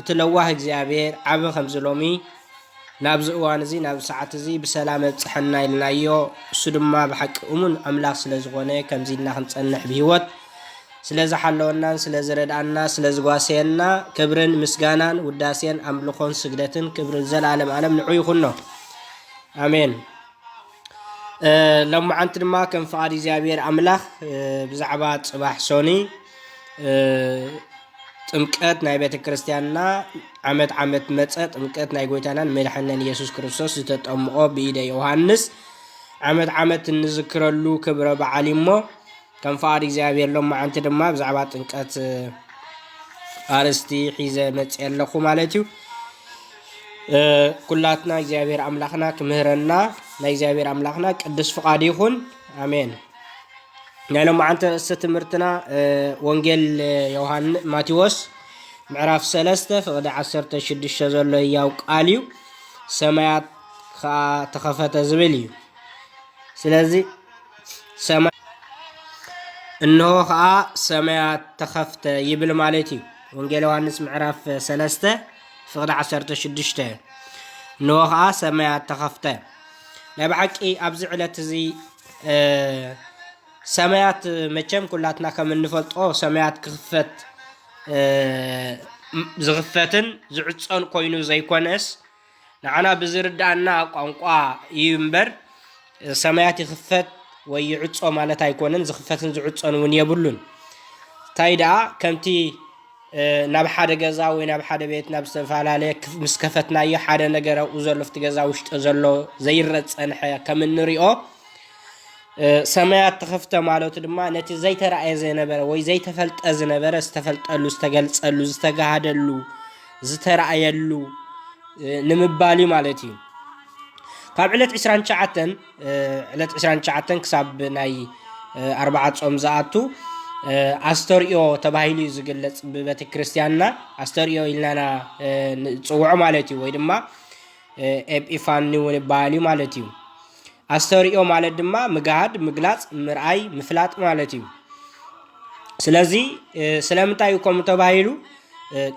እቲ ለዋህ እግዚኣብሔር ዓቢ ከምዚ ሎሚ ናብዚ እዋን እዚ ናብዚ ሰዓት እዚ ብሰላም ኣብጸሐና ኢልናዮ እሱ ድማ ብሓቂ እሙን ኣምላኽ ስለ ዝኾነ ከምዚ ኢልና ክንጸንሕ ብህይወት ስለ ዝሓለወናን ስለ ዝረድኣና ስለ ዝጓሰየና ክብርን ምስጋናን ውዳሴን ኣምልኾን ስግደትን ክብርን ዘላለም ኣለም ንዑ ይኹኖ ኣሜን ሎማዓንቲ ድማ ከም ፍቓድ እግዚኣብሔር ኣምላኽ ብዛዕባ ጽባሕ ሶኒ ጥምቀት ናይ ቤተ ክርስቲያንና ዓመት ዓመት መጸ ጥምቀት ናይ ጎይታናን መድሓንናን ኢየሱስ ክርስቶስ ዝተጠምቆ ብኢደ ዮሃንስ ዓመት ዓመት እንዝክረሉ ክብረ በዓል እሞ ከም ፍቓድ እግዚኣብሔር ሎመዓንቲ ድማ ብዛዕባ ጥምቀት ኣርስቲ ሒዘ መጽ ኣለኹ ማለት እዩ ኩላትና እግዚኣብሔር ኣምላኽና ክምህረና ናይ እግዚኣብሔር ኣምላኽና ቅዱስ ፍቓድ ይኹን ኣሜን ናይ ሎማዓንቲ ርእሲ ትምህርትና ወንጌል ዮሃን ማቴዎስ ምዕራፍ ሰለስተ ፍቕዲ ዓሰርተ ሽዱሽተ ዘሎ እያው ቃል እዩ ሰማያት ከዓ ተኸፈተ ዝብል እዩ ስለዚ ሰማይ እንሆ ከዓ ሰማያት ተኸፍተ ይብል ማለት እዩ ወንጌል ዮሃንስ ምዕራፍ ሰለስተ ፍቕዲ ዓሰርተ ሽዱሽተ እንሆ ከዓ ሰማያት ተኸፍተ ናይ ብሓቂ ኣብዚ ዕለት እዚ ሰማያት መቸም ኩላትና ከም እንፈልጦ ሰማያት ክኽፈት ዝኽፈትን ዝዕፀን ኮይኑ ዘይኮነስ ንዓና ብዝርዳእና ቋንቋ እዩ እምበር ሰማያት ይኽፈት ወይ ይዕፆ ማለት ኣይኮነን። ዝኽፈትን ዝዕፀን እውን የብሉን። እንታይ ደኣ ከምቲ ናብ ሓደ ገዛ ወይ ናብ ሓደ ቤት ናብ ዝተፈላለየ ክፍ ምስ ከፈትናዮ ሓደ ነገር ኣብኡ ዘሎ ኣብቲ ገዛ ውሽጢ ዘሎ ዘይረእ ዝጸንሐ ከም እንሪኦ ሰማያት ተኸፍተ ማለቱ ድማ ነቲ ዘይተራእየ ዘይነበረ ወይ ዘይተፈልጠ ዝነበረ ዝተፈልጠሉ ዝተገልጸሉ ዝተጋሃደሉ ዝተራእየሉ ንምባል እዩ ማለት እዩ ካብ ዕለት 29 ዕለት ዕስራን ትሽዓተን ክሳብ ናይ ኣርብዓ ጾም ዝኣቱ ኣስተርእዮ ተባሂሉ እዩ ዝግለጽ ብቤተ ክርስቲያንና ኣስተርእዮ ኢልናና ንጽውዖ ማለት እዩ ወይ ድማ ኤጲፋኒ እውን ይበሃል እዩ ማለት እዩ ኣስተርእዮ ማለት ድማ ምግሃድ ምግላጽ ምርኣይ ምፍላጥ ማለት እዩ ስለዚ ስለምንታይ እዩ ከምኡ ተባሂሉ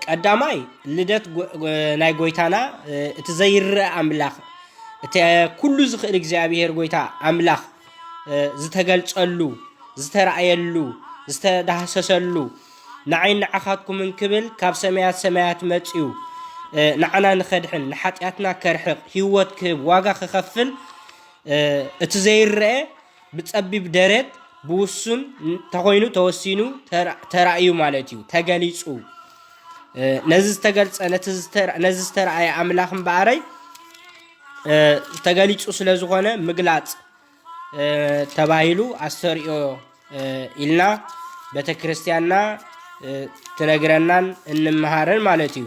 ቀዳማይ ልደት ናይ ጎይታና እቲ ዘይርአ ኣምላኽ እቲ ኩሉ ዝኽእል እግዚኣብሄር ጎይታ ኣምላኽ ዝተገልጸሉ ዝተረእየሉ ዝተዳህሰሰሉ ንዓይ ንዓኻትኩምን ክብል ካብ ሰማያት ሰማያት መጽዩ ንዓና ንኸድሕን ንሓጢኣትና ከርሕቕ ህይወት ክህብ ዋጋ ክኸፍል እቲ ዘይረአ ብጸቢብ ደረት ብውሱን እንተኾይኑ ተወሲኑ ተራእዩ ማለት እዩ ተገሊጹ ነዚ ዝተገልጸ ነዚ ዝተረኣየ ኣምላኽ እምበኣረይ ተገሊጹ ስለ ዝኾነ ምግላጽ ተባሂሉ ኣስተርእዮ ኢልና ቤተ ክርስቲያንና ትነግረናን እንመሃርን ማለት እዩ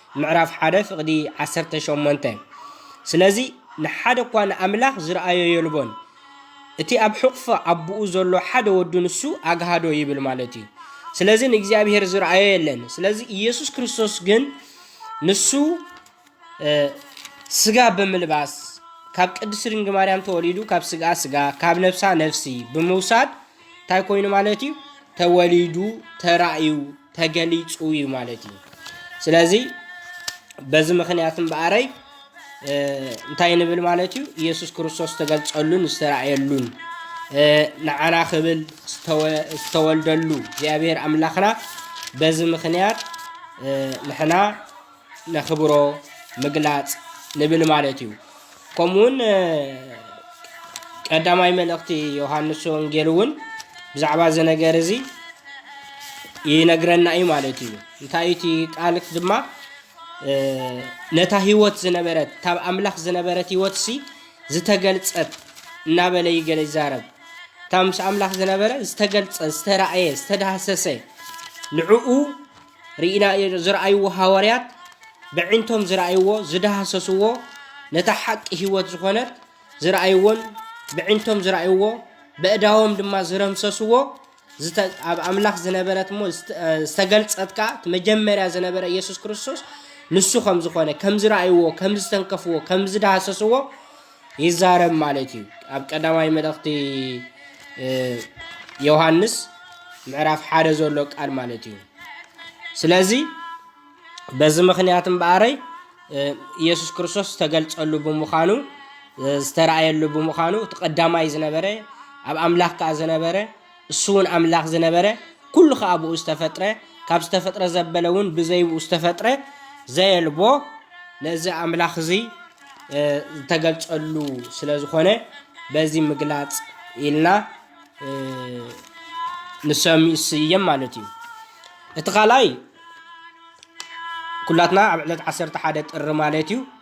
ምዕራፍ ሓደ ፍቕዲ ዓሰርተ ሸሞንተ ስለዚ ንሓደ እኳ ንኣምላኽ ዝርኣዮ የልቦን፣ እቲ ኣብ ሕቝፎ ኣቦኡ ዘሎ ሓደ ወዱ ንሱ ኣግሃዶ ይብል ማለት እዩ። ስለዚ ንእግዚኣብሄር ዝርኣዮ የለን። ስለዚ ኢየሱስ ክርስቶስ ግን ንሱ ስጋ ብምልባስ ካብ ቅድስቲ ድንግል ማርያም ተወሊዱ ካብ ስግኣ ስጋ ካብ ነፍሳ ነፍሲ ብምውሳድ እንታይ ኮይኑ ማለት እዩ ተወሊዱ ተራእዩ ተገሊፁ እዩ ማለት እዩ ስለዚ በዚ ምክንያት እምበኣረይ እንታይ ንብል ማለት እዩ ኢየሱስ ክርስቶስ ዝተገልፀሉን ዝተረእየሉን ንዓና ክብል ዝተወልደሉ እግዚኣብሔር ኣምላኽና በዚ ምክንያት ንሕና ነኽብሮ ምግላጽ ንብል ማለት እዩ። ከምኡውን ቀዳማይ መልእኽቲ ዮሃንስ ወንጌል እውን ብዛዕባ እዚ ነገር እዚ ይነግረና እዩ ማለት እዩ። እንታይ እቲ ቃል ድማ ነታ ህይወት ዝነበረት ካብ ኣምላኽ ዝነበረት ህይወት ሲ ዝተገልጸት እናበለ ይገለ ይዛረብ እታ ምስ ኣምላኽ ዝነበረ ዝተገልጸ ዝተረእየ ዝተዳህሰሰ ንዕኡ ርኢና ዝርኣይዎ ሃዋርያት በዒንቶም ዝርኣይዎ ዝዳህሰስዎ ነታ ሓቂ ህይወት ዝኾነት ዝርኣይዎን በዒንቶም ዝርኣይዎ በእዳዎም ድማ ዝረምሰስዎ ኣብ ኣምላኽ ዝነበረት እሞ ዝተገልጸት ከዓ እቲ መጀመርያ ዝነበረ ኢየሱስ ክርስቶስ ንሱ ከም ዝኾነ ከም ዝረኣይዎ ከም ዝተንከፍዎ ከም ዝዳህሰስዎ ይዛረብ ማለት እዩ ኣብ ቀዳማይ መልእኽቲ ዮሃንስ ምዕራፍ ሓደ ዘሎ ቃል ማለት እዩ ስለዚ በዚ ምክንያት እምበኣረይ ኢየሱስ ክርስቶስ ዝተገልጸሉ ብምዃኑ ዝተረኣየሉ ብምዃኑ እቲ ቀዳማይ ዝነበረ ኣብ ኣምላኽ ከዓ ዝነበረ እሱውን ኣምላኽ ዝነበረ፣ ኩሉ ኸኣ ብእኡ ዝተፈጥረ፣ ካብ ዝተፈጥረ ዘበለውን ብዘይ ብእኡ ዝተፈጥረ ዘየልቦ፣ ነዚ ኣምላኽ እዚ ዝተገልጸሉ ስለ ዝኾነ በዚ ምግላጽ ኢልና ንሰምስየም ማለት እዩ። እቲ ካልኣይ ኩላትና ኣብ ዕለት ዓሰርተ ሓደ ጥሪ ማለት እዩ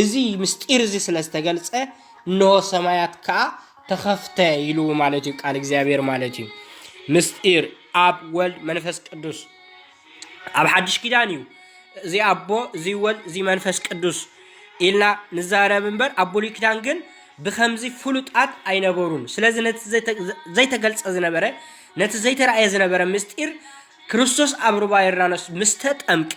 እዚ ምሥጢር እዚ ስለ ዝተገልጸ እንሆ ሰማያት ከኣ ተኸፍተ ኢሉ ማለት እዩ ቃል እግዚኣብሔር ማለት እዩ ምሥጢር ኣብ ወልድ መንፈስ ቅዱስ ኣብ ሓድሽ ኪዳን እዩ እዚ ኣቦ እዚ ወልድ እዚ መንፈስ ቅዱስ ኢልና ንዛረብ እምበር ኣብ ብሉይ ኪዳን ግን ብከምዚ ፍሉጣት ኣይነበሩን ስለዚ ነቲ ዘይተገልጸ ዝነበረ ነቲ ዘይተረእየ ዝነበረ ምስጢር ክርስቶስ ኣብ ሩባ ዮርዳኖስ ምስ ተጠምቀ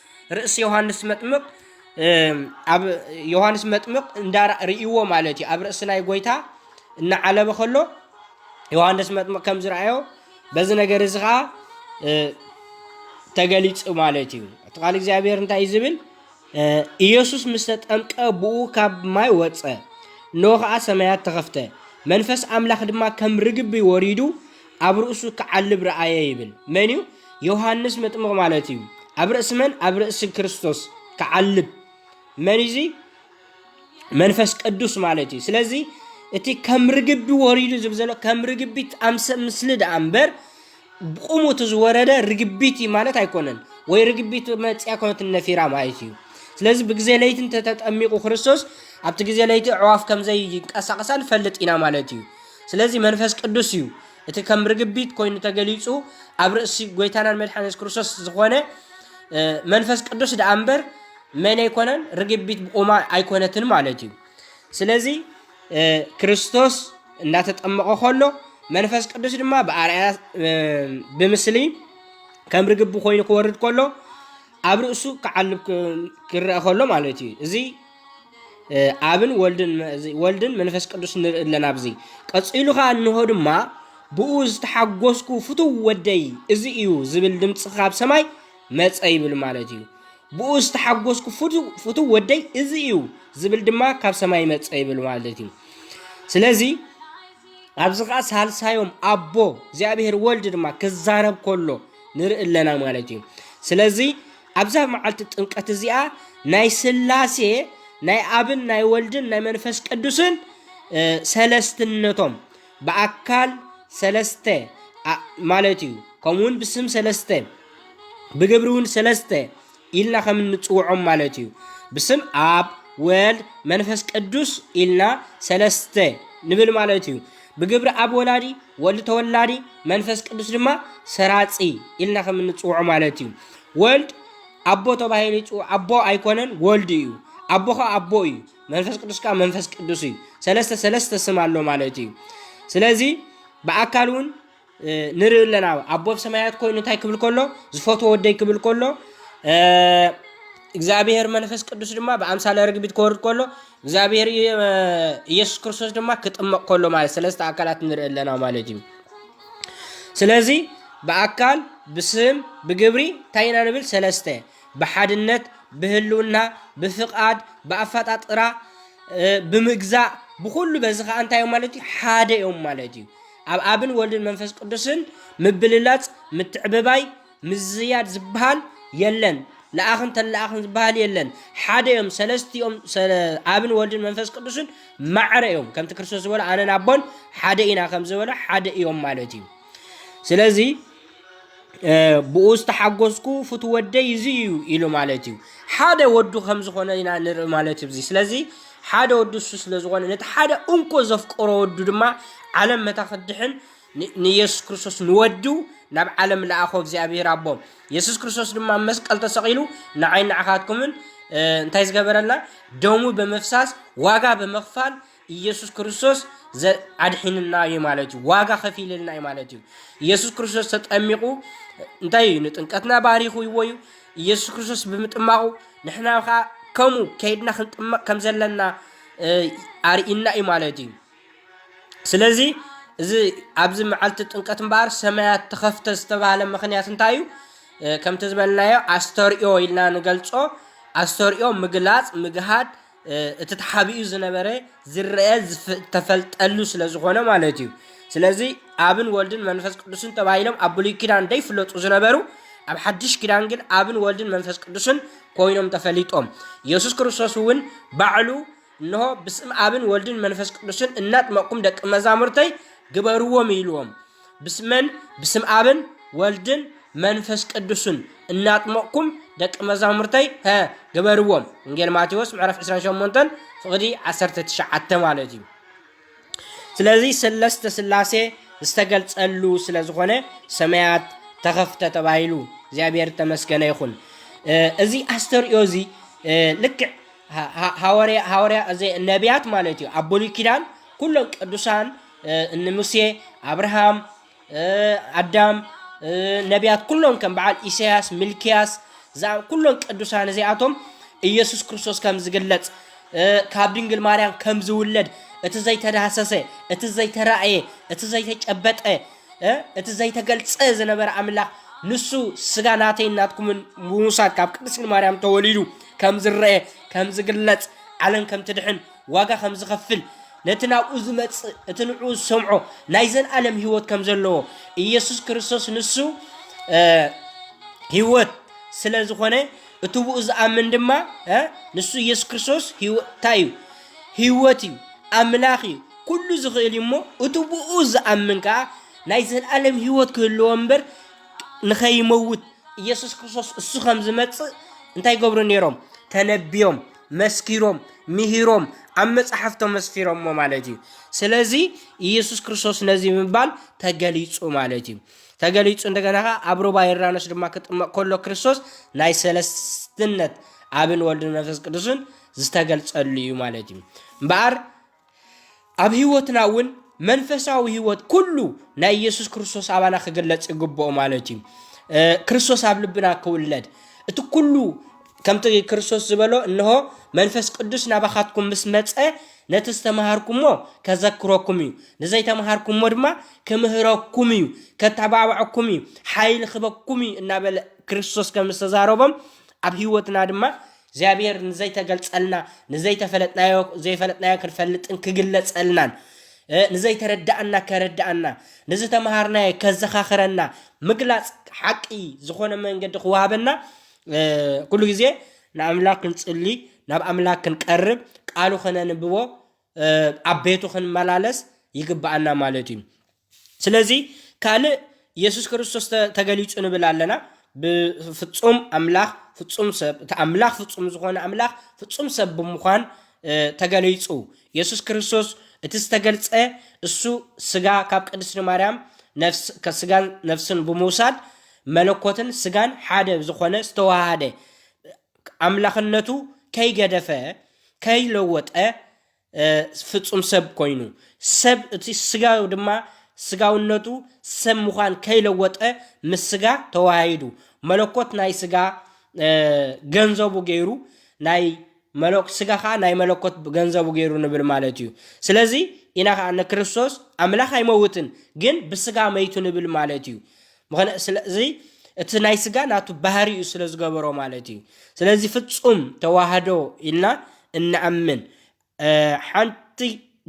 ርእሲ ዮሃንስ መጥምቕ ኣብ ዮሃንስ መጥምቕ እንዳ ርእይዎ ማለት እዩ ኣብ ርእሲ ናይ ጎይታ እናዓለበ ከሎ ዮሃንስ መጥምቕ ከም ዝረኣዮ በዚ ነገር እዚ ከዓ ተገሊፁ ማለት እዩ እቲ ቃል እግዚኣብሔር እንታይ እዩ ዝብል ኢየሱስ ምስ ተጠምቀ ብኡ ካብ ማይ ወፀ እነሆ ከዓ ሰማያት ተኸፍተ መንፈስ ኣምላኽ ድማ ከም ርግቢ ወሪዱ ኣብ ርእሱ ክዓልብ ረኣየ ይብል። መን እዩ? ዮሃንስ መጥምቕ ማለት እዩ። ኣብ ርእሲ መን? ኣብ ርእሲ ክርስቶስ ክዓልብ መን እዩ? መንፈስ ቅዱስ ማለት እዩ። ስለዚ እቲ ከም ርግቢ ወሪዱ ዝብል ዘሎ ከም ርግቢት ኣምሰ ምስሊ ደኣ እምበር ብቑሙ እቲ ዝወረደ ርግቢት እዩ ማለት ኣይኮነን። ወይ ርግቢት መፅያ ኮነት ነፊራ ማለት እዩ። ስለዚ ብግዜ ለይቲ እንተተጠሚቑ ክርስቶስ ኣብቲ ግዜ ለይቲ ኣዕዋፍ ከምዘይ ይንቀሳቐሳ ንፈልጥ ኢና ማለት እዩ። ስለዚ መንፈስ ቅዱስ እዩ እቲ ከም ርግቢት ኮይኑ ተገሊጹ ኣብ ርእሲ ጎይታናን መድሓን የሱስ ክርስቶስ ዝኾነ መንፈስ ቅዱስ ደኣ እምበር መን ኣይኮነን ርግቢት ብቑማ ኣይኮነትን ማለት እዩ ስለዚ ክርስቶስ እንዳተጠመቐ ከሎ መንፈስ ቅዱስ ድማ ብኣርኣያ ብምስሊ ከም ርግቢ ኮይኑ ክወርድ ከሎ ኣብ ርእሱ ክዓልብ ክረአ ከሎ ማለት እዩ እዚ ኣብን ወልድን ወልድን መንፈስ ቅዱስ ንርኢ ኣለና ኣብዚ ቀጺሉ ከኣ እንሆ ድማ ብኡ ዝተሓጎስኩ ፍቱው ወደይ እዚ እዩ ዝብል ድምፂ ካብ ሰማይ መፀ ይብል ማለት እዩ ብኡ ዝተሓጎስኩ ፍቱው ወደይ እዚ እዩ ዝብል ድማ ካብ ሰማይ መፀ ይብል ማለት እዩ ስለዚ ኣብዚ ከዓ ሳልሳዮም ኣቦ እግዚኣብሔር ወልድ ድማ ክዛረብ ከሎ ንርኢ ኣለና ማለት እዩ ስለዚ ኣብዛ መዓልቲ ጥምቀት እዚኣ ናይ ስላሴ ናይ ኣብን ናይ ወልድን ናይ መንፈስ ቅዱስን ሰለስትነቶም ብኣካል ሰለስተ ማለት እዩ ከምኡ ውን ብስም ሰለስተ ብግብሪ እውን ሰለስተ ኢልና ከም እንፅውዖም ማለት እዩ ብስም ኣብ ወልድ መንፈስ ቅዱስ ኢልና ሰለስተ ንብል ማለት እዩ ብግብሪ ኣብ ወላዲ፣ ወልድ ተወላዲ፣ መንፈስ ቅዱስ ድማ ሰራጺ ኢልና ከም እንጽውዖ ማለት እዩ። ወልድ ኣቦ ተባሂሉ ይጽውዕ፣ ኣቦ ኣይኮነን ወልድ እዩ። ኣቦ ከዓ ኣቦ እዩ፣ መንፈስ ቅዱስ ከዓ መንፈስ ቅዱስ እዩ። ሰለስተ ሰለስተ ስም ኣሎ ማለት እዩ። ስለዚ ብኣካል እውን ንርኢ ኣለና ኣቦ ብ ሰማያት ኮይኑ እንታይ ክብል ከሎ ዝፈትዎ ወደይ ክብል ከሎ እግዚኣብሔር መንፈስ ቅዱስ ድማ ብኣምሳለ ርግቢት ክወርድ ከሎ እግዚኣብሔር ኢየሱስ ክርስቶስ ድማ ክጥመቕ ከሎ ማለት ሰለስተ ኣካላት ንርኢ ኣለና ማለት እዩ ስለዚ ብኣካል ብስም ብግብሪ እንታይ ኢና ንብል ሰለስተ ብሓድነት ብህልውና ብፍቓድ ብኣፈጣጥራ ብምግዛእ ብኩሉ በዚ ከዓ እንታይ እዮም ማለት እዩ ሓደ እዮም ማለት እዩ ኣብ ኣብን ወልድን መንፈስ ቅዱስን ምብልላጽ ምትዕብባይ ምዝያድ ዝበሃል የለን ለኣኽን ተለኣኽን ዝበሃል የለን ሓደ እዮም ሰለስቲኦም ኣብን ወልድን መንፈስ ቅዱስን ማዕረ እዮም ከምቲ ክርስቶስ ዝበሎ ኣነን ኣቦን ሓደ ኢና ከም ዝበሎ ሓደ እዮም ማለት እዩ ስለዚ ብኡ ዝተሓጎስኩ ፍቱ ወደይ እዚ እዩ ኢሉ ማለት እዩ ሓደ ወዱ ከም ዝኾነ ኢና ንርኢ ማለት እዩ ስለዚ ሓደ ወዱ እሱ ስለ ዝኾነ ነቲ ሓደ እንኮ ዘፍቀሮ ወዱ ድማ ዓለም መታ ክድሕን ን- ንየሱስ ክርስቶስ ንወዱ ናብ ዓለም ለኣኾ እግዚኣብሔር ኣቦ የሱስ ክርስቶስ ድማ ኣብ መስቀል ተሰቒሉ ንዓይ ንዓኻትኩምን እ፣ እንታይ ዝገበረልና ደሙ ብምፍሳስ ዋጋ ብምኽፋል ኢየሱስ ክርስቶስ ዘ- ኣድሒንና እዩ ማለት እዩ ዋጋ ከፊልልና እዩ ማለት እዩ ኢየሱስ ክርስቶስ ተጠሚቑ እንታይ እዩ ንጥምቀትና ባሪኽዎ እዩ ኢየሱስ ክርስቶስ ብምጥማቑ ንሕና ከዓ ከምኡ ከይድና ክንጥመቕ ከም ዘለና እ፣ ኣርኢና እዩ ማለት እዩ ስለዚ እዚ ኣብዚ መዓልቲ ጥምቀት እምበኣር ሰማያት ተኸፍተ ዝተባህለ ምክንያት እንታይ እዩ እ፣ ከምቲ ዝበልናዮ ኣስተርእዮ ኢልና ንገልጾ ኣስተርእዮ ምግላፅ ምግሃድ እቲ ተሓቢኡ ዝነበረ ዝረአ ዝተፈልጠሉ ስለ ዝኾነ ማለት እዩ ስለዚ ኣብን ወልድን መንፈስ ቅዱስን ተባሂሎም ኣብ ብሉይ ኪዳን ደይፍለጡ ዝነበሩ ኣብ ሓድሽ ኪዳን ግን ኣብን ወልድን መንፈስ ቅዱስን ኮይኖም ተፈሊጦም ኢየሱስ ክርስቶስ እውን ባዕሉ እንሆ ብስም ኣብን ወልድን መንፈስ ቅዱስን እናጥመቕኩም ደቂ መዛሙርተይ ግበርዎም ኢልዎም ብስመን ብስም ኣብን ወልድን መንፈስ ቅዱስን እናጥመቕኩም ደቂ መዛሙርተይ ሀ ግበርዎም ወንጌል ማቴዎስ ምዕራፍ 28 ፍቕዲ 19 ማለት እዩ ስለዚ ስለስተ ስላሴ ዝተገልጸሉ ስለ ዝኾነ ሰማያት ተኸፍተ ተባሂሉ እግዚኣብሔር ተመስገነ ይኹን እዚ ኣስተርእዮ እዚ ልክዕ ሃወርያ ነቢያት ማለት እዩ ኣብ ብሉይ ኪዳን ኩሎም ቅዱሳን እኒ ሙሴ፣ ኣብርሃም፣ ኣዳም፣ ነቢያት ኩሎም ከም በዓል ኢሳያስ፣ ሚልክያስ ዝኣ ኩሎም ቅዱሳን እዚኣቶም ኢየሱስ ክርስቶስ ከም ዝግለጽ ካብ ድንግል ማርያም ከም ዝውለድ እቲ ዘይተዳህሰሰ እቲ ዘይተራእየ እቲ ዘይተጨበጠ እቲ ዘይተገልጸ ዝነበረ ኣምላኽ ንሱ ስጋ ናተይ ናትኩምን ምውሳድ ካብ ቅድስቲ ማርያም ተወሊዱ ከም ዝረአ ከም ዝግለጽ ዓለም ከም ትድሕን ዋጋ ከም ዝኸፍል፣ ነቲ ናብኡ ዝመጽእ እቲ ንዕኡ ዝሰምዖ ናይ ዘልኣለም ህይወት ከም ዘለዎ፣ ኢየሱስ ክርስቶስ ንሱ ህይወት ስለ ዝኾነ እቲ ብኡ ዝኣምን ድማ ንሱ ኢየሱስ ክርስቶስ እንታይ እዩ ህይወት እዩ ኣምላኽ እዩ ኩሉ ዝኽእል እዩ እሞ እቲ ብኡ ዝኣምን ከዓ ናይ ዘለኣለም ህይወት ክህልዎ እምበር ንኸይመውት ኢየሱስ ክርስቶስ እሱ ከም ዝመፅእ እንታይ ይገብሩ ነይሮም ተነቢዮም መስኪሮም ምሂሮም ኣብ መጻሕፍቶም መስፊሮሞ ማለት እዩ ስለዚ ኢየሱስ ክርስቶስ ነዚ ምባል ተገሊጹ ማለት እዩ ተገሊጹ እንደገና ከ ኣብ ሩባ ዮርዳኖስ ድማ ክጥመቕ ከሎ ክርስቶስ ናይ ሰለስትነት ኣብን ወልድን መንፈስ ቅዱስን ዝተገልጸሉ እዩ ማለት እዩ እምበኣር ኣብ ህይወትና እውን መንፈሳዊ ህይወት ኩሉ ናይ ኢየሱስ ክርስቶስ ኣባና ክግለጽ ይግብኦ ማለት እዩ ክርስቶስ ኣብ ልብና ክውለድ እቲ ኩሉ ከምቲ ክርስቶስ ዝበሎ እንሆ መንፈስ ቅዱስ ናባኻትኩም ምስ መፀ ነቲ ዝተምሃርኩሞ ከዘክረኩም እዩ ንዘይተምሃርኩሞ ድማ ክምህረኩም እዩ ከተባብዐኩም እዩ ሓይሊ ክበኩም እዩ እናበለ ክርስቶስ ከም ዝተዛረቦም ኣብ ህይወትና ድማ እግዚኣብሔር ንዘይተገልጸልና፣ ንዘይተፈለጥናዮ ዘይፈለጥናዮ ክንፈልጥን ክግለጸልናን፣ ንዘይተረዳኣና ከረዳኣና፣ ንዝተመሃርናዮ ከዘኻኽረና፣ ምግላጽ ሓቂ ዝኾነ መንገዲ ክወሃበና ኩሉ ግዜ ንኣምላኽ ክንጽሊ፣ ናብ ኣምላኽ ክንቀርብ፣ ቃሉ ከነንብቦ፣ ኣብ ቤቱ ክንመላለስ ይግባኣና ማለት እዩ። ስለዚ ካልእ የሱስ ክርስቶስ ተ ተገሊጹ ንብል ኣለና። ብፍጹም ኣምላኽ ፍጹም ሰብ እቲ ኣምላኽ ፍጹም ዝኾነ ኣምላኽ ፍጹም ሰብ ብምዃን እ ተገሊጹ። የሱስ ክርስቶስ እቲ ዝተገልጸ እሱ ስጋ ካብ ቅድስቲ ማርያም ነፍስ ከ ስጋን ነፍስን ብምውሳድ መለኮትን ስጋን ሓደ ዝኾነ ዝተዋሃሃደ ኣምላኽነቱ ከይገደፈ ከይለወጠ ፍጹም ሰብ ኮይኑ፣ ሰብ እቲ ስጋዊ ድማ ስጋውነቱ ሰብ ምዃን ከይለወጠ ምስ ስጋ ተወሃሂዱ፣ መለኮት ናይ ስጋ ገንዘቡ ገይሩ ናይ ስጋ ከኣ ናይ መለኮት ገንዘቡ ገይሩ ንብል ማለት እዩ። ስለዚ ኢና ከኣ ንክርስቶስ ኣምላኽ ኣይመውትን ግን ብስጋ መይቱ ንብል ማለት እዩ። ምክንያቱ ስለዚ እቲ ናይ ስጋ ናቱ ባህሪኡ ስለ ዝገበሮ ማለት እዩ ስለዚ ፍጹም ተዋህዶ ኢልና እንኣምን ሓንቲ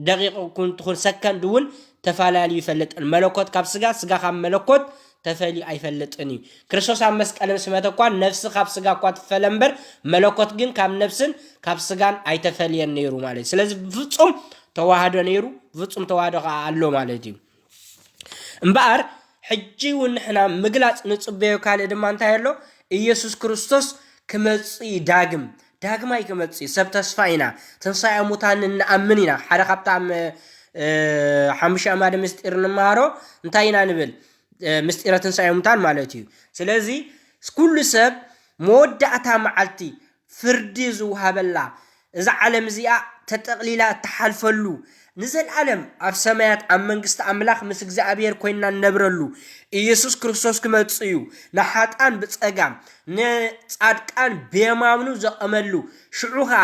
ደቂቅ ኩን ትኩን ሰከንድ እውን ተፋላልዩ ይፈልጥን መለኮት ካብ ስጋ ስጋ ካብ መለኮት ተፈልዩ ኣይፈልጥን እዩ ክርስቶስ ኣብ መስቀል ምስ መተ እኳ ነፍሲ ካብ ስጋ እኳ ትፈለ እምበር መለኮት ግን ካብ ነፍስን ካብ ስጋን ኣይተፈልየን ነይሩ ማለት እዩ ስለዚ ብፍጹም ተዋህዶ ነይሩ ብፍጹም ተዋህዶ ከዓ ኣሎ ማለት እዩ እምበኣር ሕጂ እውን ንሕና ምግላጽ ንጽበዮ ካልእ ድማ እንታይ ኣሎ? ኢየሱስ ክርስቶስ ክመጽእ እዩ ዳግም፣ ዳግማይ ክመጽእ እዩ። ሰብ ተስፋ ኢና፣ ትንሳኤ ሙታን ንኣምን ኢና። ሓደ ካብቲ ኣብ ሓሙሽተ ኣማደ ምስጢር ንመሃሮ እንታይ ኢና ንብል? ምስጢረ ትንሳኤ ሙታን ማለት እዩ። ስለዚ ኩሉ ሰብ መወዳእታ መዓልቲ ፍርዲ ዝወሃበላ፣ እዛ ዓለም እዚኣ ተጠቕሊላ እትሓልፈሉ፣ ንዘልኣለም ኣብ ሰማያት ኣብ መንግስቲ ኣምላኽ ምስ እግዚኣብሔር ኮይንና እንነብረሉ፣ ኢየሱስ ክርስቶስ ክመጽእ እዩ፣ ንሓጥኣን ብጸጋም፣ ንጻድቃን ብየማምኑ ዘቐመሉ፣ ሽዑ ከኣ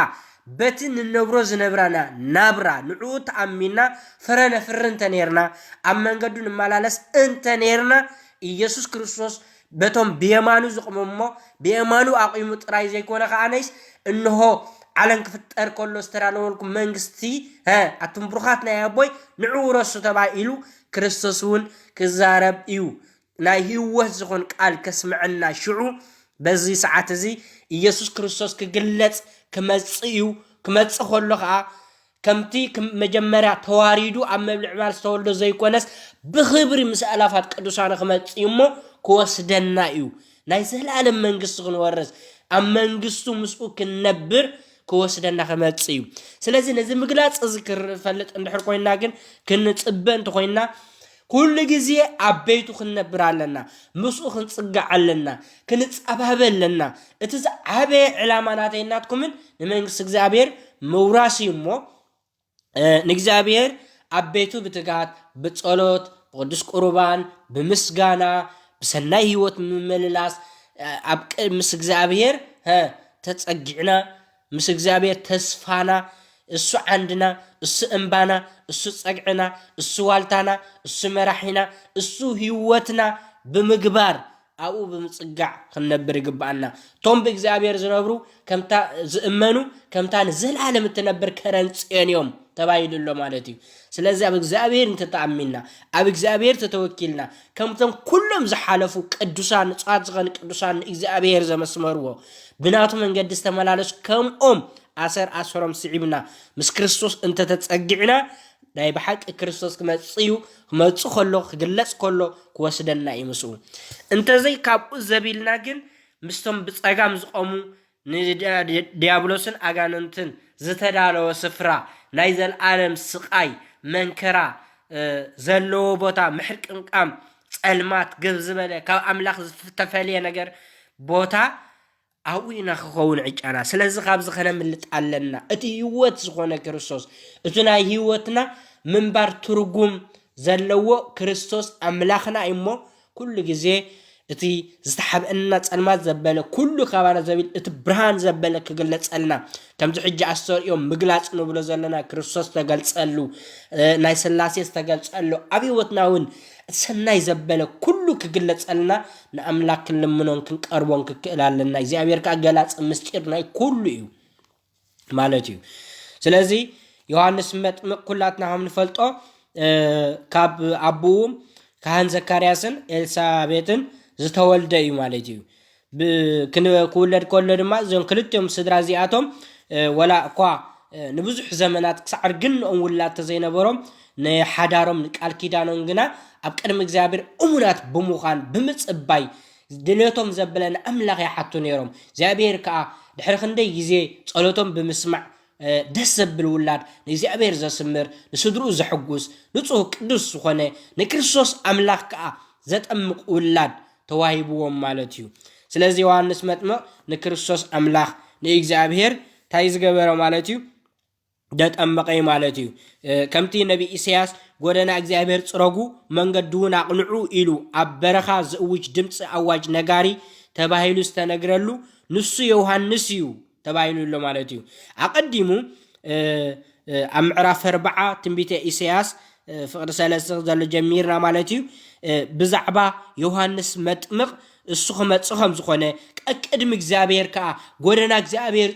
በቲ ንነብሮ ዝነብራና ናብራ ንዕኡ ተኣሚንና ፍረ ነፍሪ እንተ ኔርና፣ ኣብ መንገዱ ንመላለስ እንተ ኔርና፣ ኢየሱስ ክርስቶስ በቶም ብየማኑ ዝቕመም እሞ ብየማኑ ኣቚሙ ጥራይ ዘይኮነ ከኣነይስ እንሆ ዓለም ክፍጠር ከሎ ዝተዳለወልኩም መንግስቲ ሀ ኣቱም ብሩኻት ናይ ኣቦይ ንዑ ውረሱ ተባኢሉ ክርስቶስ እውን ክዛረብ እዩ ናይ ህይወት ዝኾን ቃል ከስምዐና ሽዑ በዚ ሰዓት እዚ ኢየሱስ ክርስቶስ ክግለጽ ክመጽእ እዩ ክመጽእ ከሎ ከኣ ከምቲ መጀመርያ ተዋሪዱ ኣብ ምብልዕባል ዝተወልደ ዘይኮነስ ብኽብሪ ምስ ኣእላፋት ቅዱሳኑ ክመጽእ እዩ እሞ ክወስደና እዩ። ናይ ዘለኣለም መንግስቲ ክንወርስ ኣብ መንግስቱ ምስኡ ክንነብር ክወስደና ክመጽእ እዩ። ስለዚ ነዚ ምግላጽ እዚ ክፈልጥ እንድሕር ኮይንና ግን ክንጽበ እንተኾይንና ኩሉ ግዜ ኣብ ቤቱ ክንነብር ኣለና፣ ምስኡ ክንጽጋዕ ኣለና፣ ክንጸባበ ኣለና። እቲ ዝዓበየ ዕላማ ናተይን ናትኩምን ንመንግስቲ እግዚኣብሔር ምውራስ እዩ እሞ ንእግዚኣብሔር ኣብ ቤቱ ብትጋት ብጸሎት ብቅዱስ ቁርባን ብምስጋና ብሰናይ ህይወት ምምልላስ ኣብ ምስ እግዚኣብሔር ተጸጊዕና ምስ እግዚኣብሔር ተስፋና እሱ ዓንድና እሱ እምባና እሱ ጸግዕና እሱ ዋልታና እሱ መራሒና እሱ ሕይወትና ብምግባር ኣብኡ ብምጽጋዕ ክንነብር ይግብኣና። እቶም ብእግዚኣብሔር ዝነብሩ ከምታ ዝእመኑ ከምታ ንዘለዓለም እትነብር ከረን ጽዮን እዮም ተባሂሉ ኣሎ ማለት እዩ። ስለዚ ኣብ እግዚኣብሔር እንተተኣሚንና ኣብ እግዚኣብሔር ተተወኪልና ከምቶም ኩሎም ዝሓለፉ ቅዱሳን ንጹሃት ዝኸኑ ቅዱሳን ንእግዚኣብሔር ዘመስመርዎ ብናቱ መንገዲ ዝተመላለሱ ከምኦም ኣሰር ኣሰሮም ስዒብና ምስ ክርስቶስ እንተተጸጊዕና ናይ ብሓቂ ክርስቶስ ክመጽእ እዩ ክመጽእ ከሎ ክግለጽ ከሎ ክወስደና እዩ ምስኡ እንተዘይ ካብኡ ዘቢልና ግን ምስቶም ብጸጋም ዝቆሙ ንድያብሎስን ኣጋንንትን ዝተዳለወ ስፍራ፣ ናይ ዘለኣለም ስቓይ፣ መንከራ፣ ዘለዎ ቦታ፣ ምሕርቅንቃም፣ ጸልማት፣ ግብ ዝበለ ካብ ኣምላኽ ዝተፈልየ ነገር ቦታ ኣብኡ ኢና ክኸውን ዕጫና። ስለዚ ካብዚ ከነምልጥ ኣለና። እቲ ህይወት ዝኾነ ክርስቶስ፣ እቲ ናይ ህይወትና ምንባር ትርጉም ዘለዎ ክርስቶስ ኣምላኽና እሞ ኩሉ ግዜ እቲ ዝተሓብእና ጸልማት ዘበለ ኩሉ ካባና ዘቢል እቲ ብርሃን ዘበለ ክግለጸልና ከምዚ ሕጂ ኣስተርእዮ ምግላጽ ንብሎ ዘለና ክርስቶስ ዝተገልጸሉ ናይ ስላሴ ዝተገልጸሉ ኣብ ህይወትና እውን እቲ ሰናይ ዘበለ ኩሉ ክግለጸልና ንኣምላክ ክንልምኖን ክንቀርቦን ክክእል ኣለና እግዚኣብሔር ከኣ ገላጺ ምስጢር ናይ ኩሉ እዩ ማለት እዩ ስለዚ ዮሃንስ መጥምቅ ኩላትና ከም ንፈልጦ ካብ ኣቦኡ ካህን ዘካርያስን ኤልሳቤጥን ዝተወልደ እዩ ማለት እዩ ክውለድ ከሎ ድማ እዞም ክልቲኦም ስድራ እዚኣቶም ወላ እኳ ንብዙሕ ዘመናት ክሳዕ ርግንኦም ውላድ ተዘይነበሮም ንሓዳሮም ንቃል ኪዳኖም ግና ኣብ ቅድሚ እግዚኣብሔር እሙናት ብምዃን ብምጽባይ ድሌቶም ዘበለ ንኣምላኽ ይሓቱ ነይሮም። እግዚኣብሄር ከኣ ድሕሪ ክንደይ ግዜ ጸሎቶም ብምስማዕ ደስ ዘብል ውላድ ንእግዚኣብሄር ዘስምር ንስድርኡ ዘሕጉስ ንጹህ ቅዱስ ዝኾነ ንክርስቶስ ኣምላኽ ከኣ ዘጠምቅ ውላድ ተዋሂብዎም ማለት እዩ። ስለዚ ዮሃንስ መጥምቅ ንክርስቶስ ኣምላኽ ንእግዚኣብሄር እንታይ ዝገበረ ማለት እዩ? ደጠመቐ ማለት እዩ። ከምቲ ነቢይ ኢሰያስ ጎደና እግዚኣብሔር ጽረጉ መንገዲውን ኣቕንዑ ኢሉ ኣብ በረኻ ዝእውጅ ድምጺ ኣዋጅ ነጋሪ ተባሂሉ ዝተነግረሉ ንሱ ዮውሃንስ እዩ ተባሂሉ ኣሎ ማለት እዩ። ኣቐዲሙ ኣብ ምዕራፍ ኣርብዓ ትንቢተ ኢሰያስ ፍቕዲ ሰለስተ ዘሎ ጀሚርና ማለት እዩ ብዛዕባ ዮውሃንስ መጥምቕ እሱ ክመጽእ ከም ዝኾነ፣ ቀቅድሚ እግዚኣብሔር ከኣ ጐደና እግዚኣብሔር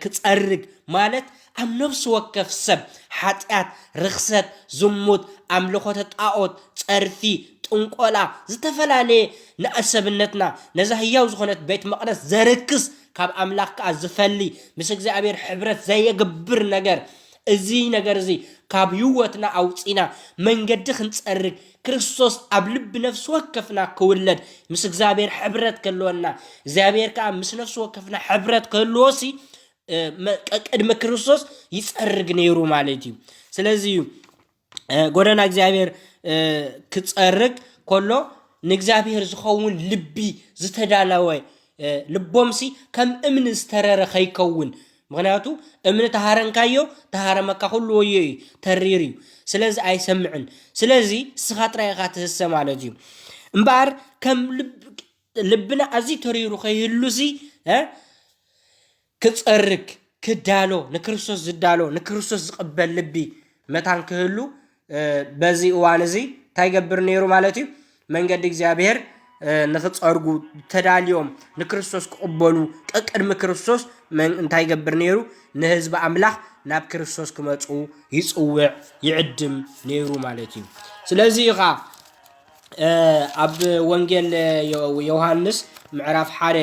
ክጸርግ ማለት ኣብ ነፍሲ ወከፍ ሰብ ሓጢኣት፣ ርኽሰት፣ ዝሙት፣ ኣምልኾተ ጣኦት፣ ጸርፊ፣ ጥንቆላ፣ ዝተፈላለየ ንኣሰብነትና ነዛ ህያው ዝኾነት ቤት መቕደስ ዘርክስ ካብ ኣምላኽ ከኣ ዝፈሊ ምስ እግዚኣብሔር ሕብረት ዘየግብር ነገር እዚ ነገር እዚ ካብ ህይወትና ኣውጺና መንገዲ ክንጸርግ ክርስቶስ ኣብ ልቢ ነፍሲ ወከፍና ክውለድ ምስ እግዚኣብሔር ሕብረት ከለወና እግዚኣብሔር ከዓ ምስ ነፍሲ ወከፍና ሕብረት ክህልዎ ሲ ቅድሚ ክርስቶስ ይፀርግ ነይሩ ማለት እዩ ስለዚ እዩ ጎደና እግዚኣብሔር ክፀርግ ከሎ ንእግዚኣብሔር ዝኸውን ልቢ ዝተዳለወ ልቦምሲ ከም እምኒ ዝተረረ ከይከውን ምኽንያቱ እምኒ ተሃረንካዮ ተሃረመካ ኩሉ ወዮ እዩ ተሪር እዩ ስለዚ ኣይሰምዕን ስለዚ ንስኻ ጥራይ ኢኻ ትህሰ ማለት እዩ እምበኣር ከም ልብና ኣዝዩ ተሪሩ ከይህሉሲ ክጸርግ ክዳሎ ንክርስቶስ ዝዳሎ ንክርስቶስ ዝቕበል ልቢ መታን ክህሉ በዚ እዋን እዚ እንታይ ገብር ነይሩ ማለት እዩ? መንገዲ እግዚኣብሔር ንክፀርጉ ተዳልዮም ንክርስቶስ ክቕበሉ ቀቅድሚ ክርስቶስ እንታይ ገብር ነይሩ? ንህዝቢ ኣምላኽ ናብ ክርስቶስ ክመፁ ይፅውዕ ይዕድም ነይሩ ማለት እዩ። ስለዚ እዩ ከዓ ኣብ ወንጌል ዮሃንስ ምዕራፍ ሓደ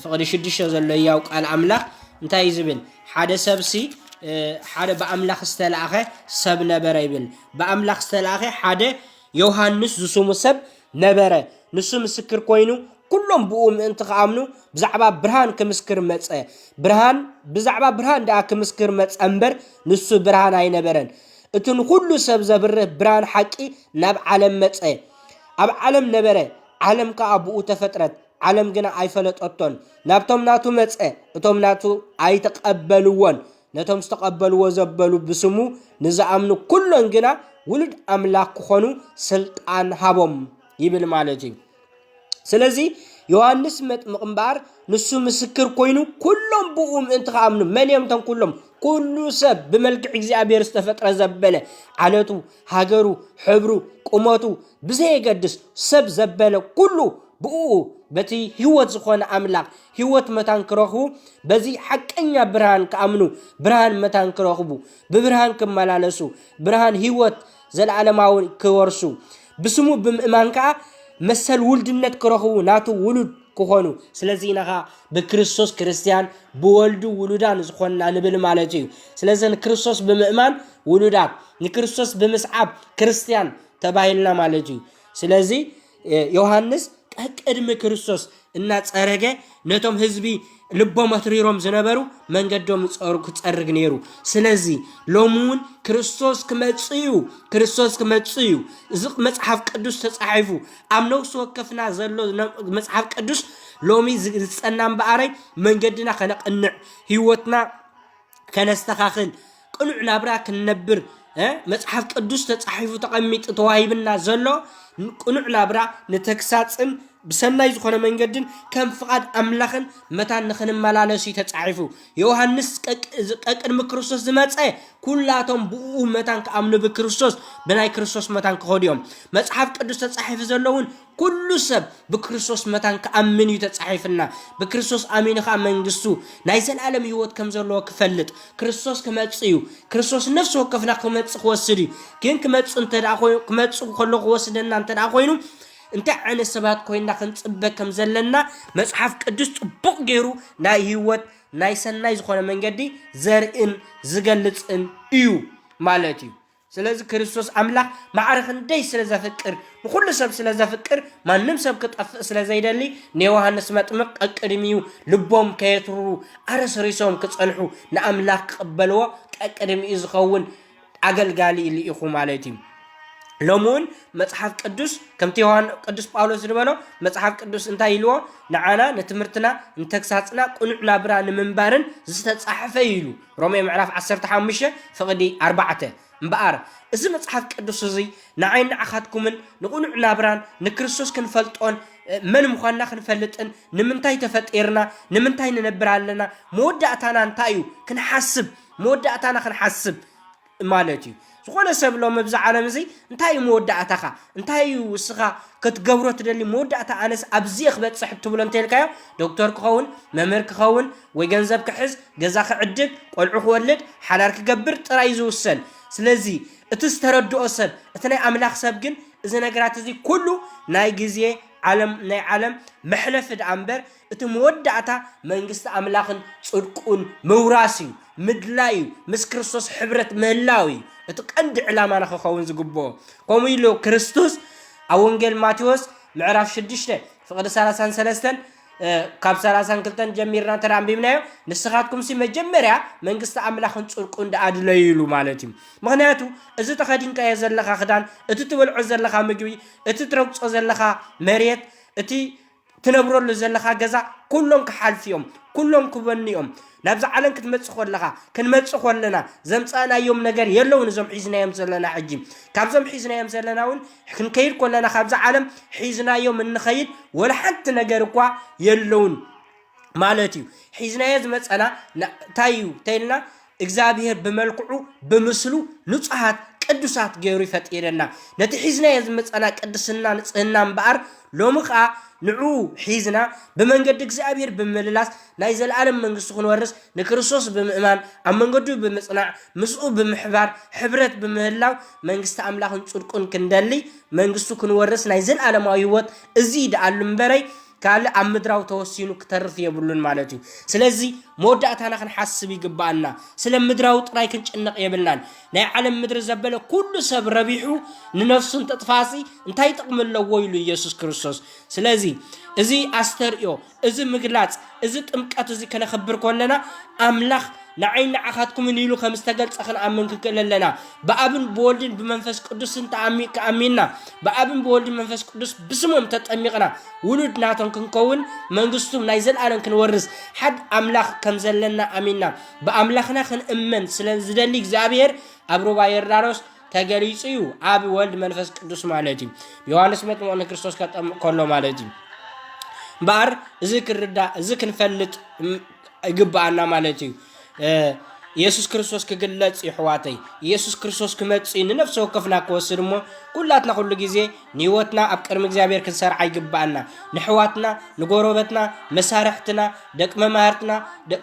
ፍቕዲ ሽዱሽተ ዘሎ ያው ቃል ኣምላኽ እንታይ ዝብል ሓደ ሰብሲ ሓደ ብኣምላኽ ዝተላእኸ ሰብ ነበረ ይብል ብኣምላኽ ዝተላእኸ ሓደ ዮሃንስ ዝስሙ ሰብ ነበረ ንሱ ምስክር ኮይኑ ኩሎም ብኡ ምእንቲ ክኣምኑ ብዛዕባ ብርሃን ክምስክር መፀ ብርሃን ብዛዕባ ብርሃን ደኣ ክምስክር መፀ እምበር ንሱ ብርሃን ኣይነበረን እቲ ንኹሉ ሰብ ዘብርህ ብርሃን ሓቂ ናብ ዓለም መጸ። ኣብ ዓለም ነበረ፣ ዓለም ከኣ ብኡ ተፈጥረት፣ ዓለም ግና ኣይፈለጠቶን። ናብቶም ናቱ መጸ፣ እቶም ናቱ ኣይተቐበልዎን። ነቶም ዝተቐበልዎ ዘበሉ ብስሙ ንዝኣምኑ ኩሎም ግና ውሉድ ኣምላኽ ክኾኑ ስልጣን ሃቦም ይብል ማለት እዩ። ስለዚ ዮሃንስ መጥምቕ እምበኣር ንሱ ምስክር ኮይኑ ኩሎም ብኡ ምእንቲ ከኣምኑ መን እዮም እቶም ኩሎም ኩሉ ሰብ ብመልክዕ እግዚኣብሔር ዝተፈጥረ ዘበለ ዓለቱ ሃገሩ ሕብሩ ቁመቱ ብዘየገድስ ሰብ ዘበለ ኩሉ ብኡ በቲ ህይወት ዝኾነ ኣምላኽ ህይወት መታን ክረኽቡ በዚ ሓቀኛ ብርሃን ክኣምኑ ብርሃን መታን ክረኽቡ ብብርሃን ክመላለሱ ብርሃን ህይወት ዘለዓለማዊ ክወርሱ ብስሙ ብምእማን ከኣ መሰል ውልድነት ክረኽቡ ናቱ ውሉድ ክኾኑ ስለዚ ኢና ከኣ ብክርስቶስ ክርስትያን ብወልዱ ውሉዳን ዝኾንና ንብል ማለት እዩ። ስለዚ ንክርስቶስ ብምእማን ውሉዳት ንክርስቶስ ብምስዓብ ክርስትያን ተባሂልና ማለት እዩ። ስለዚ ዮሃንስ ቀቅድሚ ክርስቶስ እናጸረገ ነቶም ህዝቢ ልቦም ኣትሪሮም ዝነበሩ መንገዶም ጸሩ ክጸርግ ነይሩ ስለዚ ሎሚ እውን ክርስቶስ ክመጽእ እዩ ክርስቶስ ክመጽእ እዩ እዚ መጽሓፍ ቅዱስ ተጻሒፉ ኣብ ነፍሲ ወከፍና ዘሎ መጽሓፍ ቅዱስ ሎሚ ዝጸና እምበኣረይ መንገድና ከነቕንዕ ህይወትና ከነስተኻኽል ቅኑዕ ናብራ ክንነብር መጽሓፍ ቅዱስ ተጻሒፉ ተቐሚጡ ተዋሂብና ዘሎ ቅኑዕ ናብራ ንተግሳጽን ብሰናይ ዝኾነ መንገድን ከም ፍቓድ ኣምላኽን መታን ንኽንመላለሱ እዩ ተጻሒፉ ዮሃንስ ቀቅድሚ ክርስቶስ ዝመጸ ኩላቶም ብኡ መታን ክኣምኑ ብክርስቶስ ብናይ ክርስቶስ መታን ክኸዱ እዮም መጽሓፍ ቅዱስ ተጻሒፉ ዘሎ እውን ኩሉ ሰብ ብክርስቶስ መታን ክኣምን እዩ ተጻሒፍና። ብክርስቶስ ኣሚኑ ከኣ መንግስቱ ናይ ዘልኣለም ህይወት ከም ዘለዎ ክፈልጥ። ክርስቶስ ክመጽእ እዩ። ክርስቶስ ነፍሲ ወከፍና ክመጽእ ክወስድ እዩ። ግን ክመጽእ እንተደኣ ኮይኑ ክመጽእ ከሎ ክወስደና እንተደኣ ኮይኑ እንታይ ዓይነት ሰባት ኮይና ክንጽበ ከም ዘለና መጽሓፍ ቅዱስ ጽቡቕ ገይሩ ናይ ህይወት ናይ ሰናይ ዝኾነ መንገዲ ዘርእን ዝገልጽን እዩ ማለት እዩ። ስለዚ ክርስቶስ ኣምላኽ ማዕረ ክንደይ ስለ ዘፍቅር፣ ንዅሉ ሰብ ስለ ዘፍቅር፣ ማንም ሰብ ክጠፍእ ስለ ዘይደሊ፣ ንዮሃንስ መጥምቕ ቀቅድሚኡ ልቦም ከየትርሩ ኣረስሪሶም ክጸንሑ ንኣምላኽ ክቕበልዎ ቀቅድሚኡ ዝኸውን ኣገልጋሊ ልኢኹ ማለት እዩ። ሎሚ እውን መጽሓፍ ቅዱስ ከምቲ ዮሃን ቅዱስ ጳውሎስ ዝበሎ መጽሓፍ ቅዱስ እንታይ ኢልዎ ንዓና ንትምህርትና ንተግሳጽና ቅኑዕ ናብራ ንምንባርን ዝተጻሕፈ እዩ ኢሉ ሮሜ ምዕራፍ ዓሰርተ ሓሙሽተ ፍቕዲ ኣርባዕተ እምበኣር፣ እዚ መጽሓፍ ቅዱስ እዚ ንዓይን ንዓኻትኩምን ንቕኑዕ ናብራን ንክርስቶስ ክንፈልጦን መን ምዃንና ክንፈልጥን ንምንታይ ተፈጢርና ንምንታይ ንነብር ኣለና መወዳእታና እንታይ እዩ ክንሓስብ መወዳእታና ክንሓስብ ማለት እዩ ዝኾነ ሰብ ሎም ኣብዚ ዓለም እዚ እንታይ እዩ መወዳእታኻ እንታይ እዩ ውስኻ ክትገብሮ ትደሊ መወዳእታ ኣነስ ኣብዚ ክበፅሕ እትብሎ እንተልካዮ ዶክተር ክኸውን መምህር ክኸውን ወይ ገንዘብ ክሕዝ ገዛ ክዕድግ ቆልዑ ክወልድ ሓዳር ክገብር ጥራይ እዩ ዝውሰን ስለዚ እቲ ዝተረድኦ ሰብ እቲ ናይ ኣምላኽ ሰብ ግን እዚ ነገራት እዚ ኩሉ ናይ ግዜ ዓለም ናይ ዓለም መሕለፊ ደኣ እምበር እቲ መወዳእታ መንግስቲ ኣምላኽን ጽድቁን ምውራስ እዩ፣ ምድላይ እዩ፣ ምስ ክርስቶስ ሕብረት ምህላው እዩ እቲ ቀንዲ ዕላማና ክኸውን ዝግብኦ። ከምኡ ኢሉ ክርስቶስ ኣብ ወንጌል ማቴዎስ ምዕራፍ ሽዱሽተ ፍቕዲ ሰላሳን ሰለስተን ካብ ሰላሳን ክልተን ጀሚርና እንተ ኣንቢብናዮ ንስኻትኩምሲ መጀመርያ መንግስቲ ኣምላኽን ጽድቁን ደኣ ድለዩ ኢሉ ማለት እዩ። ምክንያቱ እዚ ተኸዲንካዮ ዘለኻ ክዳን፣ እቲ ትበልዖ ዘለኻ ምግቢ፣ እቲ ትረግጾ ዘለኻ መሬት፣ እቲ ትነብረሉ ዘለኻ ገዛ ኩሎም ክሓልፉ ዮም ኩሎም ክበኑ ዮም ናብዛ ዓለም ክትመጽእ ኮለኻ ክንመጽእ ኮለና ዘምጻእናዮም ነገር የለውን እዞም ሒዝናዮም ዘለና ሕጂ ካብዞም ሒዝናዮም ዘለና ውን ክንከይድ ኮለና ካብዛ ዓለም ሒዝናዮም እንኸይድ ወላ ሓንቲ ነገር እኳ የለውን ማለት ዩ ሒዝናዮ ዝመጸና ታይ ዩ ተይልና እግዚኣብሄር ብመልክዑ ብምስሉ ንጹሃት ቅዱሳት ገይሩ ይፈጢረና። ነቲ ሒዝናዮ ዝመጻና ቅድስና ንጽህና እምበኣር ሎሚ ከኣ ንዕኡ ሒዝና ብመንገዲ እግዚኣብሄር ብምምልላስ ናይ ዘለኣለም መንግስቲ ክንወርስ ንክርስቶስ ብምእማን ኣብ መንገዱ ብምጽናዕ ምስኡ ብምሕባር ሕብረት ብምህላው መንግስቲ ኣምላኽን ጽድቁን ክንደሊ መንግስቱ ክንወርስ ናይ ዘለኣለማዊ ሕይወት እዚ ደኣሉ እምበረይ ካልእ ኣብ ምድራዊ ተወሲኑ ክተርፍ የብሉን ማለት እዩ። ስለዚ መወዳእታና ክንሓስብ ይግብኣና። ስለ ምድራዊ ጥራይ ክንጭነቕ የብልናን። ናይ ዓለም ምድሪ ዘበለ ኩሉ ሰብ ረቢሑ ንነፍሱ እንተጥፍኣሲ እንታይ ጥቕሚ ኣለዎ ኢሉ ኢየሱስ ክርስቶስ። ስለዚ እዚ ኣስተርእዮ፣ እዚ ምግላጽ፣ እዚ ጥምቀት እዚ ከነኽብር ከለና ኣምላኽ ንዓይን ንዓኻትኩምን ኢሉ ከም ዝተገልጸ ክንኣምን ክንክእል ኣለና። ብኣብን ብወልድን ብመንፈስ ቅዱስን ተኣሚ ኣሚንና፣ ብኣብን ብወልድን መንፈስ ቅዱስ ብስሞም ተጠሚቕና፣ ውሉድ ናቶም ክንከውን፣ መንግስቱም ናይ ዘልኣለም ክንወርስ፣ ሓድ ኣምላኽ ከም ዘለና ኣሚንና፣ ብኣምላኽና ክንእመን ስለ ዝደሊ እግዚኣብሔር ኣብ ሩባ ዮርዳኖስ ተገሊጹ እዩ፣ ኣብ ወልድ መንፈስ ቅዱስ ማለት እዩ። ዮሐንስ መጥምቕ ንክርስቶስ ከጠምቕ ከሎ ማለት እዩ። እምበኣር እዚ ክንርዳእ እዚ ክንፈልጥ ይግብኣና ማለት እዩ ኢየሱስ ክርስቶስ ክግለጽ ይሕዋተይ ኢየሱስ ክርስቶስ ክመጽ ንነፍሲ ወከፍና ክወስድ እሞ ኩላትና ኩሉ ግዜ ንህይወትና ኣብ ቅድሚ እግዚኣብሔር ክንሰርዓ ይግብኣና ንሕዋትና ንጎረበትና መሳርሕትና ደቂ መማህርትና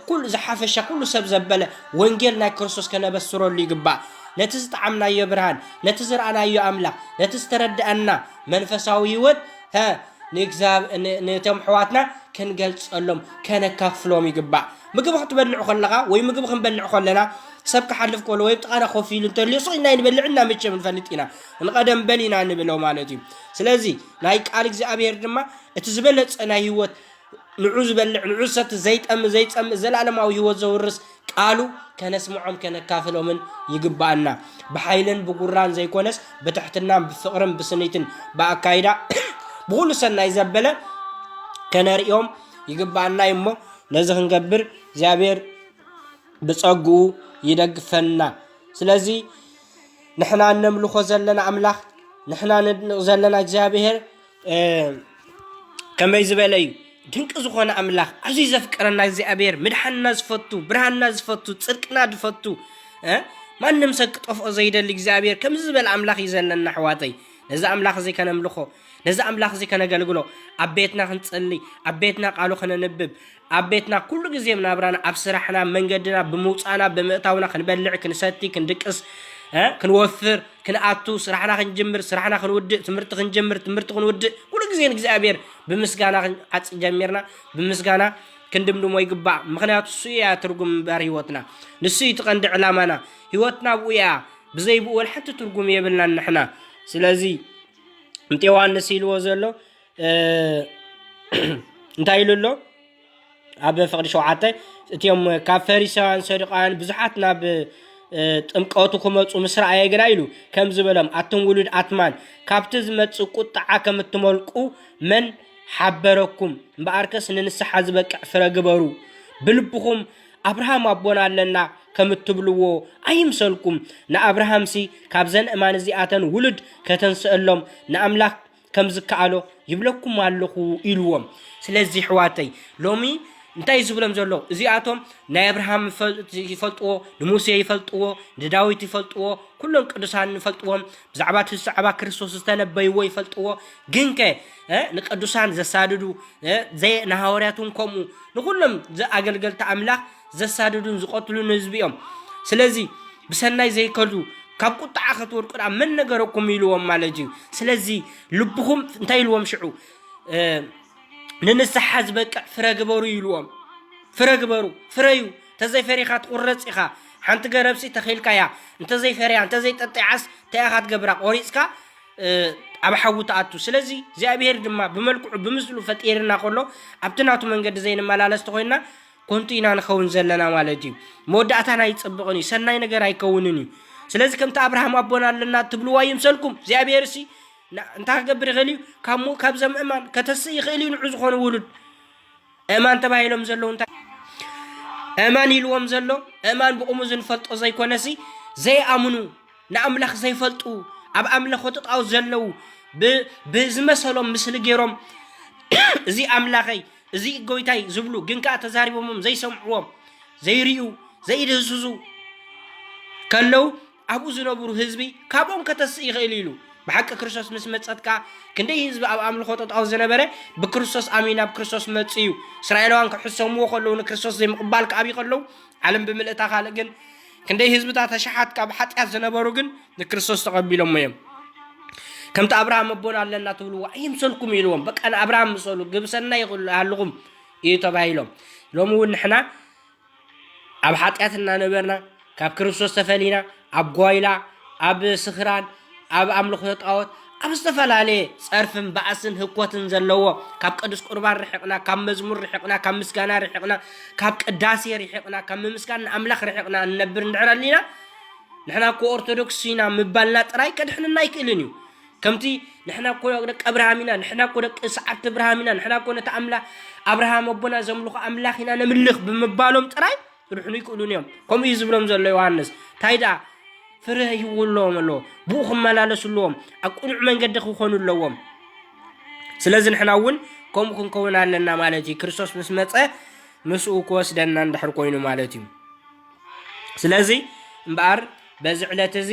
ኩሉ ዝሓፈሻ ኩሉ ሰብ ዘበለ ወንጌል ናይ ክርስቶስ ከነበስረሉ ይግባእ ነቲ ዝጠዓምናዮ ብርሃን ነቲ ዝረኣናዮ ኣምላኽ ነቲ ዝተረድኣና መንፈሳዊ ህይወት ሀ ንእግዚኣብሔር ነቶም ኣሕዋትና ክንገልጸሎም ከነካፍሎም ይግባእ ምግቢ ክትበልዕ ከለኻ ወይ ምግቢ ክንበልዕ ከለና ሰብ ክሓልፍ ከሎ ወይ ጥቓና ኮፍ ኢሉ እንተልዮ ሱቕ ኢልና ይንበልዕ እና መቸም ንፈልጥ ኢና ንቐደም በል ኢና ንብሎ ማለት እዩ ስለዚ ናይ ቃል እግዚኣብሔር ድማ እቲ ዝበለጸ ናይ ህይወት ንዑ ዝበልዕ ንዑ ዝሰቲ ዘይጠሚ ዘይጸምእ ዘላለማዊ ህይወት ዘውርስ ቃሉ ከነስምዖም ከነካፍሎምን ይግባኣና ብሓይልን ብጉራን ዘይኮነስ ብትሕትናን ብፍቕርን ብስኒትን ብኣካይዳ ብኹሉ ሰናይ ዘበለ ከነርእዮም ይግባኣና እዩ እሞ ነዚ ክንገብር እግዚኣብሔር ብጸግኡ ይደግፈና ስለዚ ንሕና እነምልኾ ዘለና ኣምላኽ ንሕና ነድንቕ ዘለና እግዚኣብሔር ከመይ ዝበለ እዩ ድንቂ ዝኾነ ኣምላኽ ኣዝዩ ዘፍቀረና እግዚኣብሔር ምድሓንና ዝፈቱ ብርሃንና ዝፈቱ ፅድቅና ዝፈቱ ማንም ሰብ ክጠፍኦ ዘይደሊ እግዚኣብሔር ከምዚ ዝበለ ኣምላኽ እዩ ዘለና ኣሕዋተይ ነዚ ኣምላኽ እዚ ከነምልኾ ነዚ ኣምላኽ እዚ ከነገልግሎ ኣብ ቤትና ክንፅሊ ኣብ ቤትና ቃሉ ከነንብብ ኣብ ቤትና ኩሉ ግዜ ኣብ ናብራና ኣብ ስራሕና ኣብ መንገድና ብምውጻእና ብምእታውና ክንበልዕ ክንሰቲ ክንድቅስ ክንወፍር ክንኣቱ ስራሕና ክንጅምር ስራሕና ክንውድእ ትምህርቲ ክንጅምር ትምህርቲ ክንውድእ ኩሉ ግዜ ንእግዚኣብሔር ብምስጋና ዓጽ ጀሚርና ብምስጋና ክንድምድሞ ይግባእ ምክንያቱ ንሱ እያ ትርጉም ምበር ህይወትና ንሱ እዩ ትቐንዲ ዕላማና ህይወትና ብኡ እያ ብዘይ ብኡ ሓንቲ ትርጉም የብልናን ንሕና ስለዚ እንተ ዮሃንስ ኢልዎ ዘሎ እንታይ ኢሉ ኣሎ ኣብ ፍቕዲ ሸውዓተ እቲኦም ካብ ፈሪሳውያን ሰዱቃውያን ብዙሓት ናብ ጥምቀቱ ክመፁ ምስ ረኣየ ግና ኢሉ ከም ዝበሎም ኣቱም ውሉድ ኣትማን ካብቲ ዝመፅእ ቁጥዓ ከም እትመልቁ መን ሓበረኩም እምበኣርከስ ንንስሓ ዝበቅዕ ፍረ ግበሩ ብልብኹም ኣብርሃም ኣቦና ኣለና ከም እትብልዎ ኣይምሰልኩም ንኣብርሃምሲ ካብዘን እማን እዚኣተን ውሉድ ከተንስአሎም ንኣምላኽ ከም ዝከኣሎ ይብለኩም ኣለኹ ኢልዎም ስለዚ ኣሕዋተይ ሎሚ እንታይ እዩ ዝብሎም ዘሎ እዚኣቶም ናይ ኣብርሃም ይፈልጥዎ ንሙሴ ይፈልጥዎ ንዳዊት ይፈልጥዎ ኩሎም ቅዱሳን ይፈልጥዎም ብዛዕባ እቲ ብዛዕባ ክርስቶስ ዝተነበይዎ ይፈልጥዎ ግን ከ እ፣ ንቅዱሳን ዘሳድዱ እ፣ ዘይ ንሃዋርያት እውን ከምኡ ንኩሎም ዘኣገልገልቲ ኣምላኽ ዘሳድዱን ዝቐትሉን ህዝቢ እዮም ስለዚ ብሰናይ ዘይከዱ ካብ ቁጣዓ ከትወድቁ ድኣ መን ነገረኩም ኢልዎም ማለት እዩ ስለዚ ልብኹም እንታይ ኢልዎም ሽዑ ንንስሓ ዝበቅዕ ፍረ ግበሩ ኢልዎም ፍረ ግበሩ ፍረዩ ተዘይፈሪኻ ትቑረፅ ኢኻ ሓንቲ ገረብሲ ተኺልካያ እንተዘይፈርያ እንተዘይጠጢዓስ እንታይ ኢኻ ትገብራ ቆሪፅካ ኣብ ሓዊ ትኣቱ ስለዚ እግዚኣብሄር ድማ ብመልክዑ ብምስሉ ፈጢርና ከሎ ኣብቲ ናቱ መንገዲ ዘይንመላለስ ተኮይንና ኮንቱ ኢና ንኸውን ዘለና ማለት እዩ። መወዳእታና ኣይጽብቕን እዩ፣ ሰናይ ነገር ኣይከውንን እዩ። ስለዚ ከምቲ ኣብርሃም ኣቦና ኣለና እትብልዎ ኣይምሰልኩም፣ እግዚኣብሄርሲ ን- እንታይ ክገብር ይኽእል እዩ? ካብ ሙ- ካብዞም እማን ከተስእ ይኽእል እዩ ንዑ ዝኾኑ ውሉድ እማን ተባሂሎም ዘለዉ እንታይ እማን ኢልዎም ዘሎ እማን ብቑሙ ዝንፈልጦ ዘይኮነሲ ዘይኣምኑ ንኣምላኽ ዘይፈልጡ ኣብ ኣምለኾት ጣዖት ዘለዉ ብ- ብዝመሰሎም ምስሊ ገይሮም እዚ ኣምላኸይ እዚ ጎይታይ ዝብሉ ግን ከኣ ተዛሪቦሞም ዘይሰምዕዎም ዘይርእዩ ዘይድህስሱ ከለው ኣብኡ ዝነብሩ ህዝቢ ካብኦም ከተስእ ይኽእል ኢሉ ብሓቂ ክርስቶስ ምስ መጸት ከኣ ክንደይ ህዝቢ ኣብ ኣምልኾ ጠጣው ዝነበረ ብክርስቶስ ኣሚን ናብ ክርስቶስ መጽ እዩ እስራኤላውያን ክሕሰምዎ ከለዉ ንክርስቶስ ዘይምቕባል ክኣብዩ ከለዉ ዓለም ብምልእታ ካልእ ግን ክንደይ ህዝብታት ኣሽሓት ካብ ሓጢኣት ዝነበሩ ግን ንክርስቶስ ተቐቢሎሞ እዮም ከምቲ ኣብርሃም ኣቦና ኣለና ትብልዎ ኣይምሰልኩም ኢልዎም በቃ ንኣብርሃም ምሰሉ ግብሰና ይሃልኹም እዩ ተባሂሎም ሎሚ እውን ንሕና ኣብ ሓጢኣት እናነበርና ካብ ክርስቶስ ተፈሊና ኣብ ጓይላ ኣብ ስኽራን ኣብ ኣምልኾ ጣዖት ኣብ ዝተፈላለየ ጸርፍን ባእስን ህኮትን ዘለዎ ካብ ቅዱስ ቁርባን ርሕቕና ካብ መዝሙር ርሕቕና ካብ ምስጋና ርሕቕና ካብ ቅዳሴ ርሕቕና ካብ ምምስጋን ንኣምላኽ ርሕቕና እንነብር እንድሕር ኣሊና ንሕና እኮ ኦርቶዶክስ ኢና ምባልና ጥራይ ከድሕንና ኣይክእልን እዩ ከምቲ ንሕና እኮ ደቂ ኣብርሃም ኢና ንሕና እኮ ደቂ ሰዓብቲ ኣብርሃም ኢና ንሕና እኮ ነቲ ኣምላ ኣብርሃም ኣቦና ዘምልኾ ኣምላኽ ኢና ነምልኽ ብምባሎም ጥራይ ክድሕኑ ይክእሉን እዮም ከምኡ እዩ ዝብሎም ዘሎ ዮሃንስ እንታይ ደኣ ፍረ ሂውለዎም ኣለዎ ብኡ ክመላለሱ ኣለዎም ኣብ ቅኑዕ መንገዲ ክኾኑ ኣለዎም ስለዚ ንሕና እውን ከምኡ ክንከውን ኣለና ማለት እዩ ክርስቶስ ምስ መፀ ምስኡ ክወስደና እንድሕር ኮይኑ ማለት እዩ ስለዚ እምበኣር በዚ ዕለት እዚ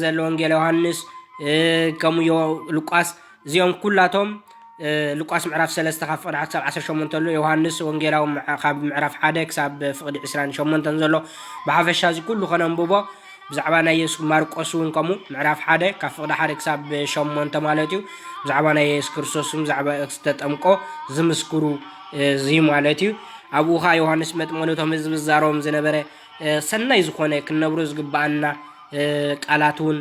ዘሎ ወንጌል ዮሃንስ ከምኡ ዮ ሉቃስ እዚኦም ኩላቶም ሉቃስ ምዕራፍ 3 ካብ ፍቅዲ 1 ክሳብ 18 ኣሎ ዮሃንስ ወንጌላዊ ካብ ምዕራፍ 1 ክሳብ ፍቅዲ 28 ዘሎ ብሓፈሻ እዚ ኩሉ ከነንብቦ ብዛዕባ ናይ የሱስ ማርቆስ እውን ከምኡ ምዕራፍ 1 ካብ ፍቅዲ 1 ክሳብ 8 ማለት እዩ ብዛዕባ ናይ የሱስ ክርስቶስ ብዛዕባ ዝተጠምቆ ዝምስክሩ እዚ ማለት እዩ ኣብኡ ከዓ ዮሃንስ መጥመሉ ቶም ህዝቢ ዝዛረቦም ዝነበረ ሰናይ ዝኾነ ክንነብሮ ዝግብኣና ቃላት እውን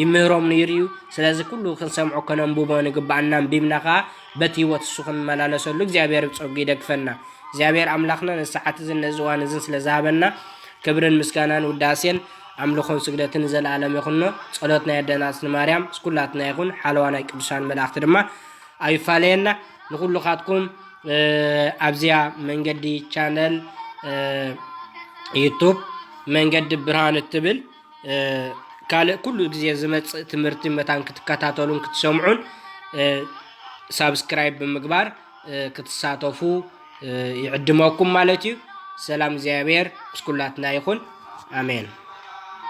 ይምህሮም ነይሩ እዩ ስለዚ ኩሉ ክንሰምዖ ከነንብቦ ንግብኣና ኣንቢብና ከዓ በቲ ህይወት እሱ ክንመላለሰሉ እግዚኣብሔር ብፀጉ ይደግፈና እግዚኣብሔር ኣምላኽና ነዚ ሰዓት እዝን ነዚ እዋን እዝን ስለ ዝሃበና ክብርን ምስጋናን ውዳሴን ኣምልኾን ስግደትን ዘለኣለም ይኹኖ ፀሎት ናይ ኣደናፅን ማርያም ስኩላትና ይኹን ሓለዋ ናይ ቅዱሳን መላእኽቲ ድማ ኣይፋለየና ንኩሉካትኩም ኣብዚኣ መንገዲ ቻነል ዩቱብ መንገዲ ብርሃን እትብል ካልእ ኩሉ ግዜ ዝመፅእ ትምህርቲ መታን ክትከታተሉን ክትሰምዑን ሳብስክራይብ ብምግባር ክትሳተፉ ይዕድመኩም ማለት እዩ። ሰላም እግዚኣብሔር ምስ ኩላትና ይኹን። ኣሜን።